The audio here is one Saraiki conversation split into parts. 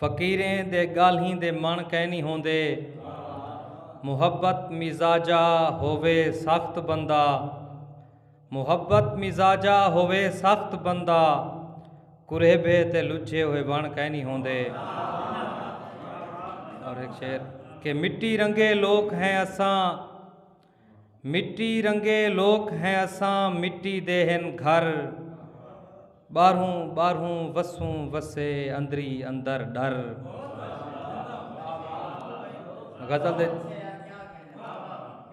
فقیریں دے گالھیں دے مݨ کینی ہوندے محبت مزاجا ہووے سخت بندہ محبت مزاجا ہووے سخت بندہ کریبھے تے لجھے ہوئے وݨ کینی ہوندے اور ایک شعر کہ مٹی رنگے لوک ہیں اساں مٹی رنگے لوک ہیں اساں مٹی دے ہن گھر باہروں باہروں وسوں وسے اندری اندر ڈر غزل دے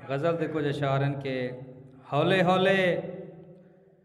غزل دے کچھ اشعار ہیں کہ ہولے ہولے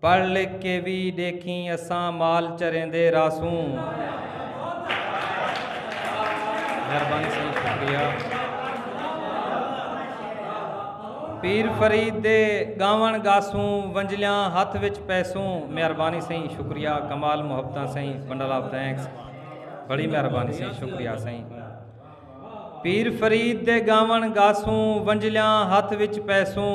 پڑھ لکھ کے وی ڈیکھیں اساں مال چریندے رہسوں۔ مہربانی سائیں شکریہ پیر فرید دے گاون گاسوں ونجلیاں ہتھ وچ پیسوں مہربانی سائیں شکریہ کمال محبتاں سائیں بنڈل آف تھینکس بڑی مہربانی سائیں شکریہ سائیں پیر فرید دے گاون گاسوں ونجلیاں ہتھ وچ پیسوں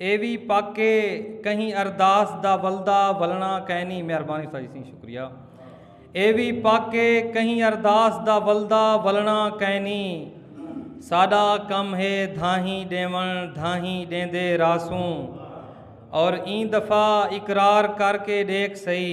اے وی پک اے کہیں ارداس دا ولدا ولݨا کائنی مہربانی ساجد سنگھ شکریہ اے وی پک اے کہیں ارداس دا ولدا ولݨا کائنی ساڈا کم ہے دھاہیں ݙیوݨ دھاہیں ݙیندے رہسوں اور ایں دفعہ اقرار کر کے ݙیکھ سہی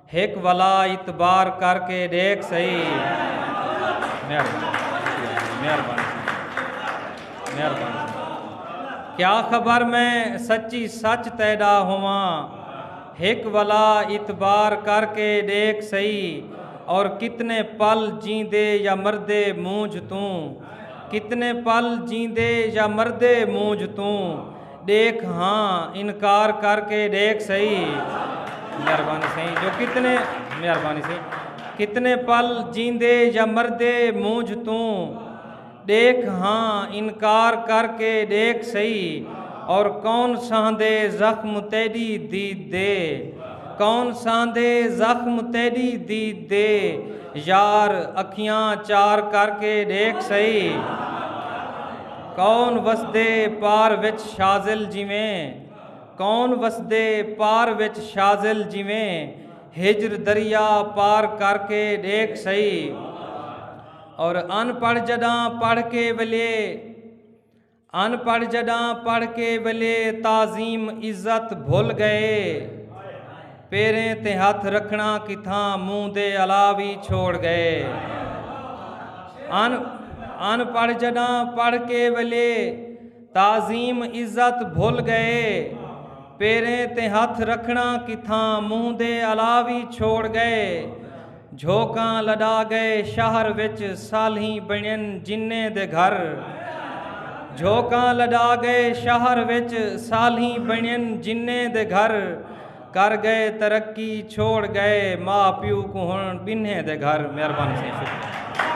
ہک ولا اعتبار کر کے ڈیکھ سہی کیا خبر میں سچی سچ تیڈا ہوواں ہک ولا اعتبار کر کے ڈیکھ سہی اور کتنے پل جیندے یا مردے مونجھ توں کتنے پل جیندے یا مردے مونجھ توں ڈیکھ ہاں انکار کر کے ڈیکھ سہی مہربانی سہی جو کتنے مہربانی سہی کتنے پل جیندے یا مردے مونجھ توں ڈیکھ ہاں انکار کر کے ڈیکھ سہی اور کون سہندے زخم تیڈی دید دے کون سہندے زخم تیڈی دید دے یار اکھیاں چار کر کے ڈیکھ سہی کون وسدے پار وچ شازل جیویں کون وسدے پار وچ شازل جیویں ہجر دریا پار کر کے ڈیکھ سئی اور ان پڑھ جڈاں پڑھ کے ولے ان پڑھ جڈاں پڑھ کے ولے تعظیم عزت بھل گئے پیریں تے ہتھ رکھنڑاں کتھاں منہ دے الاہ وی چھوڑ گئے۔ ان پڑھ جڈاں پڑھ کے ولے تعظیم عزت بھل گئے۔ پیریں تے ہتھ رکھنڑاں کتھاں منہ دے الاہ وی چھوڑ گئے۔ جھوکاں لڈا گئے شہر وچ سالھیں بنین جنیں دے گھر جھوکاں لڈا گئے شہر وچ سالھیں بنین جنیں دے گھر کر گئے ترقی چھوڑ گئے ماں پیو کو ہن بنہیں دے گھر مہربانی سے شکریہ